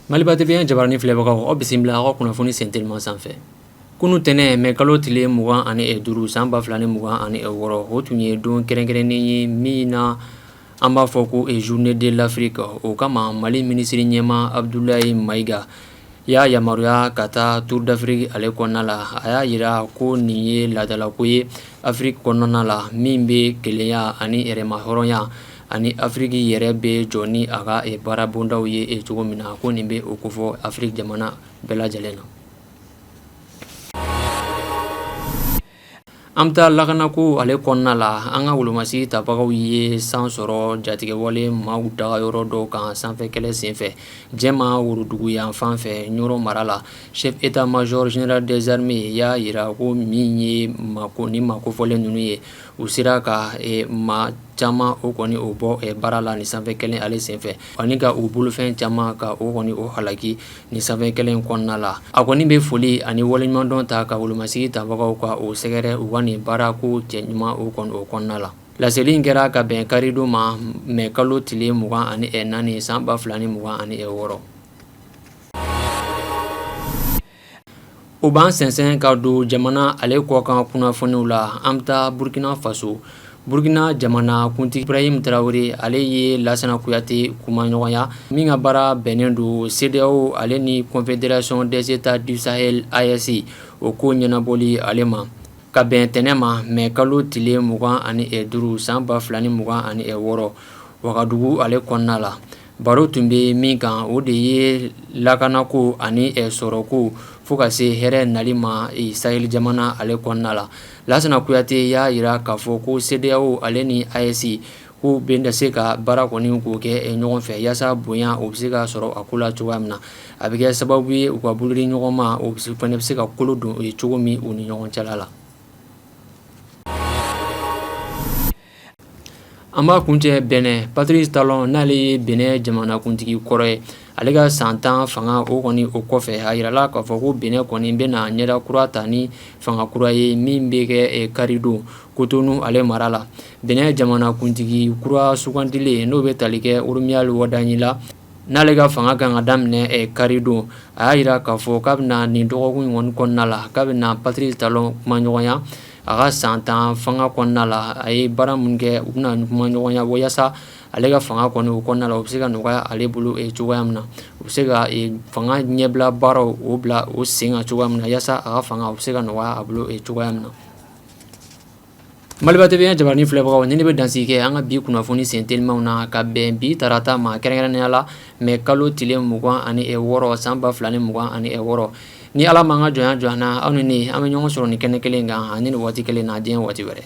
Maliba TV jabaranin filɛbagaw aw bisimila aw ka kunnafoni sen telima sanfɛ kunun tɛnɛn mɛ kalo tile mugan ani duuru san ba fila ni mugan ani wɔɔrɔ o tun ye don kɛrɛnkɛrɛnnen ye min na an b'a fɔ ko eee journée de l'Afrique o kama mali minisiri ɲɛma Abudulayi Mayiga y'a yamaruya ka taa Tour d'Afrique ale kɔnɔna la a y'a yira ko nin ye laadalako ye afiriki kɔnɔna la min bɛ kelenya ani yɛrɛmahɔrɔnya ani afiriki yɛrɛ bɛ jɔ ni a ka baarabondaw ye e cogo min na ko nin bɛ o kofɔ afiriki jamana bɛɛ lajɛlen na An bɛ taa lakanako ale kɔnɔna la an ka wolomasigi tabagaw ye san sɔrɔ jatigɛwale maaw dagayɔrɔ dɔ kan sanfɛ kɛlɛ senfɛ Jɛma worodugu yan fan fɛ Ɲɔrɔn mara la chef état major général des armées y'a yira ko min ye ni maa kofɔlen ninnu ye u sera ka maa caman o kɔni o bɔ baara la ni sanfɛ kɛlɛ ale senfɛ ani ka u bolofɛn caman ka o kɔni o halaki Ni sanfɛ kɛlɛ in kɔnɔna la a kɔni bɛ foli ani waleɲumandɔn ta ka wolomasigi tabagaw ka o sɛgɛrɛ u ka nin baarako cɛɲuman o kɔni o kɔnɔna la laseli in kɛra ka bɛn karidon ma mɛ kalo tile mugan ani naani san ba fila ni mugan ani wɔɔrɔ O b'an sensɛn ka don jamana ale kɔkan kunnafoniw la an bɛ taa burukina faso burukina jamana kuntigi Ibrahim tarawele ale ye lasana kuyate kumaɲɔgɔnya min ka baara bɛnnen don CEDEAO ale ni confédération des États du Sahel AES o ko ɲɛnabɔli ale ma ka bɛn tɛnɛn ma mɛ kalo tile mugan ani duuru san ba fila ni mugan ani wɔɔrɔ wagadugu ale kɔnɔna la baro tun bɛ min kan o de ye lakanako ani sɔrɔko fo ka se hɛrɛ nali ma Sahɛli jamana ale kɔnɔna la lasana kuyate y'a yira k'a fɔ ko CEDEAO ale ni AES k'u bɛna se ka baara kɔni k'o kɛ ɲɔgɔn fɛ yaasa bonya o bɛ se ka sɔrɔ a ko la cogoya min na a bɛ kɛ sababu ye u ka bolo di ɲɔgɔn ma o fana bɛ se ka kolo don cogo min u ni ɲɔgɔn cɛla la An b'a kuncɛ Benɛn Patrice Talon n'ale ye Benɛn jamanakuntigi kɔrɔ ye ale ka san tan fanga o kɔni o kɔfɛ a yirala k'a fɔ ko Benɛn kɔni bɛna ɲɛda kura ta ni fanga kura ye min bɛ kɛ karidon Kotonu ale mara la Benɛn jamanakuntigi kura sugandilen n'o bɛ tali kɛ Romuald Wadagni la n'ale ka fanga kan ka daminɛ karidon a y'a yira k'a fɔ k'a bɛna nin dɔgɔkun in kɔnɔna la k'a bɛna Patrice Talon kumaɲɔgɔnya A ka san tan fanga kɔnɔna la a ye baara min kɛ u bɛna kuma ɲɔgɔnya walasa ale ka fanga kɔnɔ o kɔnɔna u bɛ se ka nɔgɔya ale bolo cogoya min na u bɛ se ka fanga ɲɛbila baara o bila o sen kan cogoya min na walasa a ka fanga u bɛ se ka nɔgɔya a bolo cogoya min na maliba TV jabaranin filɛbagaw ni ne bɛ dan kɛ an ka bi kunnafoni sen telimaw na ka bɛn bi tarata ma kɛrɛnkɛrɛnnenya la mɛ kalo tile mugan ani wɔɔrɔ san ba fila ni mugan ani wɔɔrɔ ni ala ma an ka jɔnya jɔ an na aw ni ne an bɛ ɲɔgɔn sɔrɔ nin kɛnɛ kelen kan ani nin waati kelen na diɲɛ waati wɛrɛ